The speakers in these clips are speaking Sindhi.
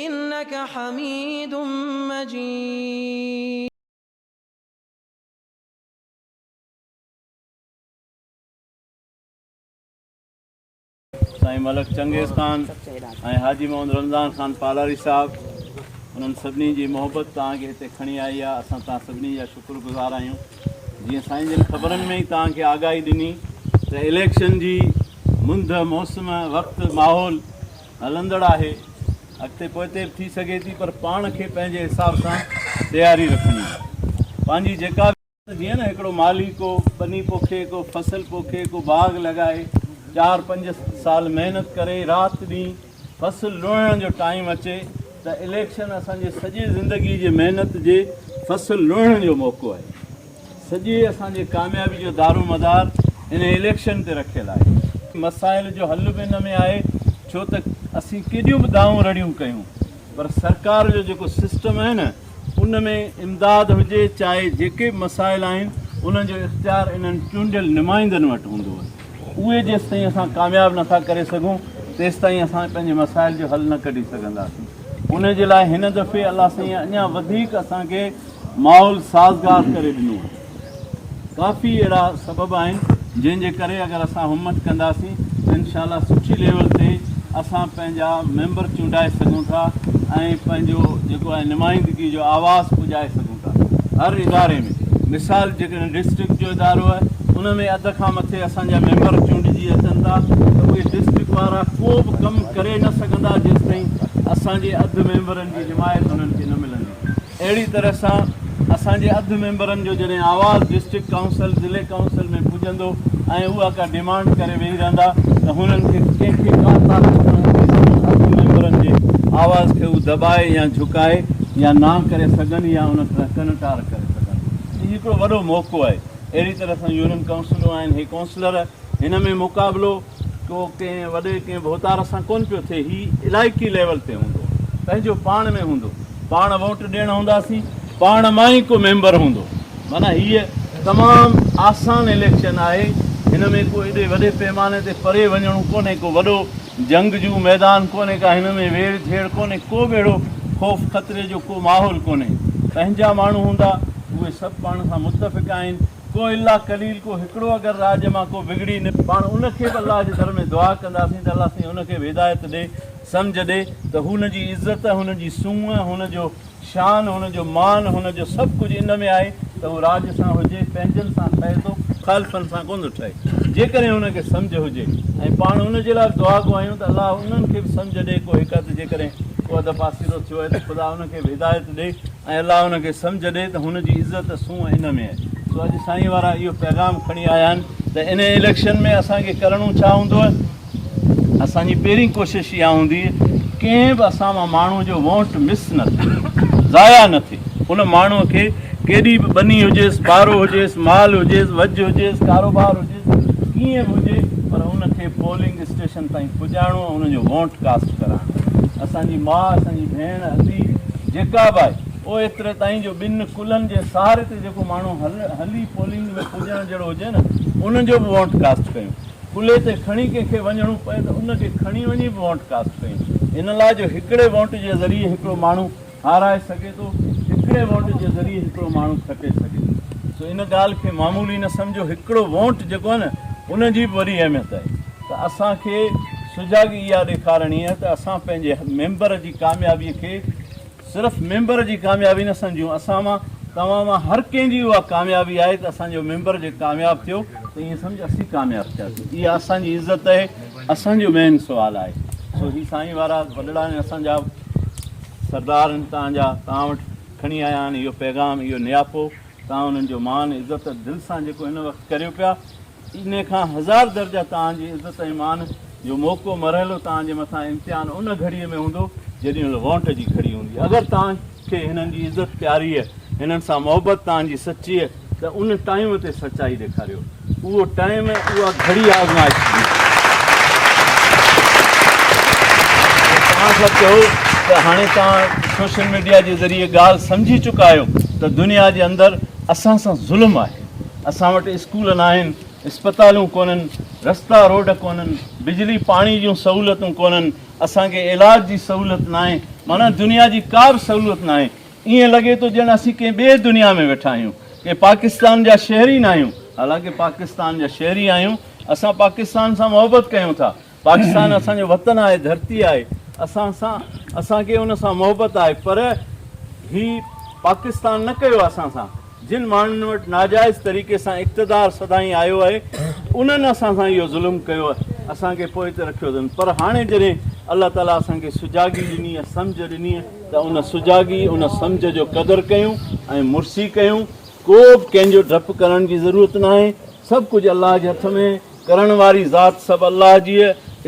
انڪ حميد مجيد. سائين ملڪ چنگيز خان ۽ حاجي محمد رمضان خان پالاري صاحب انهن سڀني جي محبت توهان کي هتي کڻي آئي آهي اسان توهان سڀني جا شڪر گذار آهيون جيئن سائين جن خبرن ۾ ئي توهان کي آگاهي ڏني ته اليڪشن جي منڌ موسم وقت ماحول هلندڙ آهي، اڳتي پوئتي به ٿي سگهي ٿي پر پاڻ کي پنهنجي حساب سان تياري رکڻي آهي. پنهنجي جيڪا به. جيئن نه هڪڙو مالهي ڪو ٻني پوکي، ڪو فصل پوکي، ڪو باغ لڳائي، چار پنج سال محنت ڪري، رات ڏينهن فصل لوڻڻ جو ٽائيم اچي ته اليڪشن اسان جي سڄي زندگي جي محنت جي فصل لوڻڻ جو موقعو آهي. سڄي اسان جي ڪاميابي جو دارومدار انهي اليڪشن تي رکيل آهي. مسائل جو حل به ان ۾ آهي ڇو ته اسين ڪيڏيون به دانهون رڙيون ڪيون پر سرڪار جو جيڪو سسٽم آهي نه ان ۾ امداد هجي چاهي جيڪي به مسائل آهن انهن جو اختيار انهن چونڊيل نمائندن وٽ هوندو اهي جيستائين اسان ڪامياب نه ٿا ڪري سگهون تيستائين اسان پنهنجي مسائل جو حل نه ڪڍي سگهنداسين انهي جي لاء هن دفعي الله سائين اڃا وڌيڪ اسان کي ماحول سازگار ڪري ڏنو آهي. ڪافي اهڙا سبب آهن جنهن جي ڪري اگر اسان همت ڪنداسين ته انشاء الله سٺي ليول تي اسان پنهنجا ميمبر چونڊائي سگهون ٿا ۽ پنهنجو جيڪو آهي نمائندگي جو آواز پڄائي سگهون ٿا هر اداري ۾ مثال جيڪڏهن ڊسٽرڪٽ جو ادارو آهي ان ۾ اڌ کان مٿي اسان جا ميمبر چونڊجي اچن ٿا ته اهي ڊسٽرڪٽ وارا ڪو به ڪم ڪري نه سگهندا جيستائين اسان جي اڌ ميمبرن جي حمايت انهن کي نه ملندي اهڙي طرح سان اسان جي اڌ ميمبرن جو جڏهن آواز ڊسٽرڪٽ ڪائونسل، ضلعي ڪائونسل ۾ پڄندو ۽ اها ڪا ڊيمانڊ ڪري ويهي رهندا ته هنن کي ڪنهن کي ڪا طاقت نه هوندي سندن اڌ ميمبرن جي آواز کي هو دٻائي يا جهڪائي يا نا ڪري سگهن يا ان کان ڪنٽار ڪري سگهن. هي هڪڙو وڏو موقعو آهي. اهڙي طرح سان يونين ڪائونسلون آهن. هي ڪائونسلر هن ۾ مقابلو. ڪو ڪنهن وڏي ڪنهن ڀوتار سان ڪونه پيو ٿئي هي علائقي ليول تي هوندو پنهنجو پاڻ ۾ هوندو پاڻ ووٽ ڏيڻ هونداسين پاڻ مان ئي ڪو ميمبر هوندو معنيٰ هيء تمام آسان اليڪشن آهي هن ۾ ڪو ايڏي وڏي پيماني تي پري وڃڻو ڪونهي ڪو وڏو جنگ جون ميدان ڪونهي ڪا هن ۾ ويڙ جهيڙ ڪونهي ڪو به اهڙو خوف خطري جو ڪو ماحول ڪونهي پنهنجا ماڻهو هوندا اهي سڀ پاڻ سان متفق آهن ڪو الا قليل ڪو هڪڙو اگر راڄ مان ڪو بگڙي نه. پاڻ ان کي به الله جي در ۾ دعا ڪنداسين ته الله سائين ان کي به هدايت ڏي سمجهه ڏي ته هو هن جي عزت هن جي سونهن هن جو شان هن جو مان هن جو سڀ ڪجهه ان ۾ آهي ته هو راڄ سان هجي پنهنجن سان ٺهي ٿو مخالفن سان ڪونه ٿو ٺهي جيڪڏهن هن کي سمجهه هجي ۽ پاڻ ان جي لاء به دعا گو آهيون ته الله انهن کي به سمجهه ڏي ڪو هڪ اڌ جيڪڏهن ڪو اڌ پاسيرو ٿيو آهي ته خدا ان کي به هدايت ڏي ۽ الله ان کي سمجهه ڏئي ته هن جي عزت سونهن ان ۾ آهي سو اڄ سائين وارا اهو پيغام کڻي آيا آهن ته انهي اليڪشن ۾ اسان کي ڪرڻو ڇا هوندو اسان جي پهرين ڪوشش اها هوندي ڪنهن به اسان مان ماڻهو جو ووٽ مس نه ٿئي ضايع نه ٿئي ان ماڻهو کي ڪيڏي به ٻني هجيس ٻارو هجيس مال هجيس وجهه هجيس ڪاروبار هجيس ڪيئن به هجي پر ان کي پولنگ اسٽيشن تائين پڄائڻو ۽ انهن جو وونٽ ڪاسٽ ڪرائڻو اسان جي ماء اسان جي ڀيڻ ادي جيڪا به آهي او ايتري تائين جو ٻن ڪلهن جي سهاري تي جيڪو ماڻهو هلي پولنگ ۾ پڄڻ جهڙو هجي نه ان جو به وونٽ ڪاسٽ ڪيون ڪلهي تي کڻي ڪنهن کي وڃڻو پئي ته ان کي کڻي وڃي به وونٽ ڪاسٽ ڪيون ان لاء جو هڪڙي وونٽ جي ذريعي هڪڙو ماڻهو هارائي سگهي ٿو، هڪڙي وونٽ جي ذريعي هڪڙو ماڻهو کٽي سگهي ٿو، سو ان ڳالهه کي معمولي نه سمجهو، هڪڙو وونٽ جيڪو آهي نه ان جي به وڏي اهميت آهي ته اسان کي سجاڳي اها ڏيکارڻي آهي ته اسان پنهنجي ميمبر جي ڪاميابي کي صرف ميمبر جي ڪاميابي نه سمجهون، اسان مان توهان مان هر ڪنهن جي اها ڪاميابي آهي ته اسان جو ميمبر جي ڪامياب ٿيو ته ائين سمجهه اسين ڪامياب ٿياسين اها اسان جي عزت آهي، اسان جو مين سوال آهي سو هي سائين وارا وڏڙا آهن اسان جا. سردار ان تان جا تان وٽ کڻي آيا آھن اھو پيغام اھو نياپو تان انھن جو مان عزت ۽ دل سان جيڪو ان وقت ڪريو پيا انھي کان ھزار درجه تان جي عزت ۽ مان جو موقعو مرحلو تان جي مٿان امتحان ان گھڙي ۾ ھوندو جڏھن مھل وونٽ جي گھڙي ھوندي اگر تان کي ھنن جي عزت پياريء ھنن سان محبت تان جي سچيء ته ان ٽائيم تي سچائي ڏيکاريو. اهو ٽائيم ۽ اها گهڙي آزمائش جي هئي. توهان سڀ چئو ته هاڻي توهان سوشل ميڊيا جي ذريعي ڳالهه سمجهي چڪا آهيو ته دنيا جي اندر اسان سان ظلم آهي. اسان وٽ اسڪول ناهن، اسپتالون ڪونهن، رستا روڊ ڪونهن، بجلي پاڻي جون سهولتون ڪونهن، اسان کي علاج جي سهولت ناهي، معنيٰ دنيا جي ڪا به سهولت ناهي. ائين لڳي ٿو ڄڻ اسين ڪنهن ٻئي دنيا ۾ ويٺا آهيون، ڪنهن پاڪستان جا شهري ئي ناهيون، حالانڪه پاڪستان جا شهري آهيون، اسان پاڪستان سان محبت ڪيون ٿا، پاڪستان اسان جو وطن آهي، ڌرتي آهي، اسان سان اسان کي ان سان محبت آهي پر هي پاڪستان نه ڪيو اسان سان، جن ماڻهن وٽ ناجائز طريقي سان اقتدار سدائين آيو آهي انهن اسان سان اهو ظلم ڪيو، اسان کي پوئتي رکيو اٿن پر هاڻي جڏهن الله تعاليٰ اسان کي سجاڳي ڏني، سمجهه ڏني. ته ان سجاڳي، ان سمجهه جو قدر ڪيون ۽ مرسي ڪيون، ڪو به ڪنهن جو ڊپ ڪرڻ جي ضرورت ناهي، سڀ ڪجهه الله جي هٿ ۾، ڪرڻ واري ذات سڀ الله جي،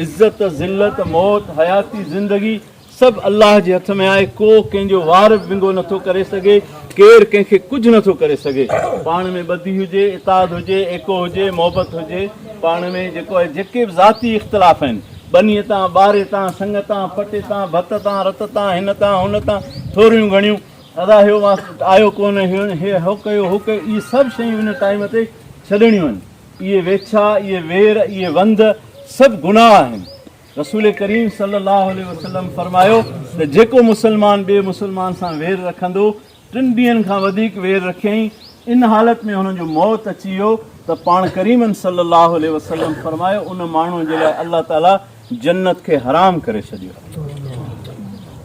عزت، ذلت، موت، حياتي، زندگي سڀ الله جي هٿ ۾ آهي، ڪو ڪنهن جو وار به ونگو نه ٿو ڪري سگهي، ڪير ڪنهن کي ڪجهه نه ٿو ڪري سگهي، پاڻ ۾ ٻڌي هجي، اتحاد هجي، ايڪو هجي، محبت هجي، پاڻ ۾ جيڪو آهي، جيڪي به ذاتي اختلاف آهن. ٻنيء تان، ٻاري تان، سڱ تان، پٽي تان، ڀت تان، رت تان، هن تان، هن تان، ٿوريون گهڻيون. ادا هيو ماس آيو ڪونه، هيون هي هو ڪيو، هو ڪيو، اهي سڀ شيون ان ٽائيم تي ڇڏڻيون آهن. اهي ويڇا، اهي وير، اهي وند سڀ گناهه آهن. رسول ڪريم صلي الله عليه وسلم فرمايو ته جيڪو مسلمان ٻئي مسلمان سان وير رکندو ٽن ڏينهن کان وڌيڪ وير رکيائين، ان حالت ۾ هن جو موت اچي ويو ته پاڻ ڪريم صلّي الله عليه وسلّم فرمايو، ان ماڻهوء جي لاء الله تعاليٰ جنّت کي حرام ڪري ڇڏيو.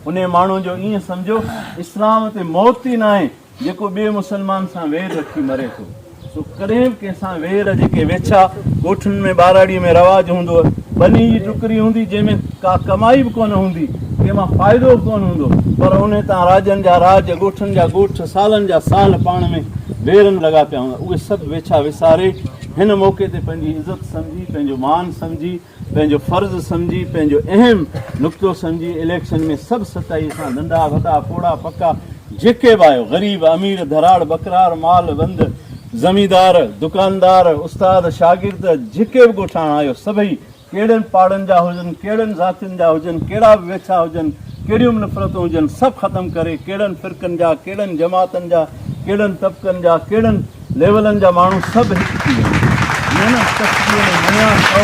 انهيء ماڻهوء جو ائين سمجهو اسلام تي موت ئي ناهي، جيڪو ٻئي مسلمان سان وير رکي مري ٿو. سو ڪڏهن به ڪنهن سان وير جيڪي ويڇا ڳوٺن ۾ ٻاراڙيء ۾ رواج هوندو هو ٻني جي ٽڪري هوندي جنهن ۾ ڪا ڪمائي به ڪونه هوندي ڪنهن مان فائدو به ڪونه هوندو پر ان تان راڄن جا راڄ ڳوٺن جا ڳوٺ سالن جا سال پاڻ ۾ ويرن لڳا پيا هوندا اهي سڀ ويڇا وساري هن موقعي تي پنهنجي عزت سمجهي پنهنجو مان سمجهي پنهنجو فرض سمجهي پنهنجو اهم نقطو سمجهي اليڪشن ۾ سڀ سچائي سان ننڍا وڏا پوڙها پڪا جيڪي به آهيو غريب امير ڌراڙ ٻڪرار مال بند زميندار دڪاندار استاد شاگرد جيڪي به ڳوٺاڻا آهيو سڀئي ڪهڙن پاڙن جا هجن ڪهڙن ذاتين جا هجن ڪهڙا به ويڇا هجن ڪهڙيون به نفرتون هجن سڀ ختم ڪري ڪهڙن فرقن جا ڪهڙن جماعتن جا ڪهڙن طبقن جا ڪهڙن ليولن جا ماڻهو سڀ هڪ ٿي ويندا آهن. محنت ڪسبيء ۾ مڃان سؤ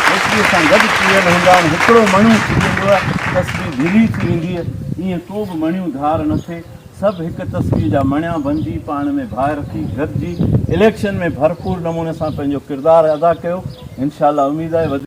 ڪسبيء سان گڏ پيل هوندا آهن. هڪڙو مڻيون ٿي ويندوء، ڪسبي ڍلي ٿي وينديء. ايئن ڪو به مڻيون ڌار نه ٿئي. سڀ هڪ ڪسبيء جا مڻيا بنجي پاڻ ۾ ڀائر ٿي گڏجي اليڪشن ۾ ڀرپور نموني سان پنهنجو ڪردار ادا ڪيو. انشاء الله اميد آهي.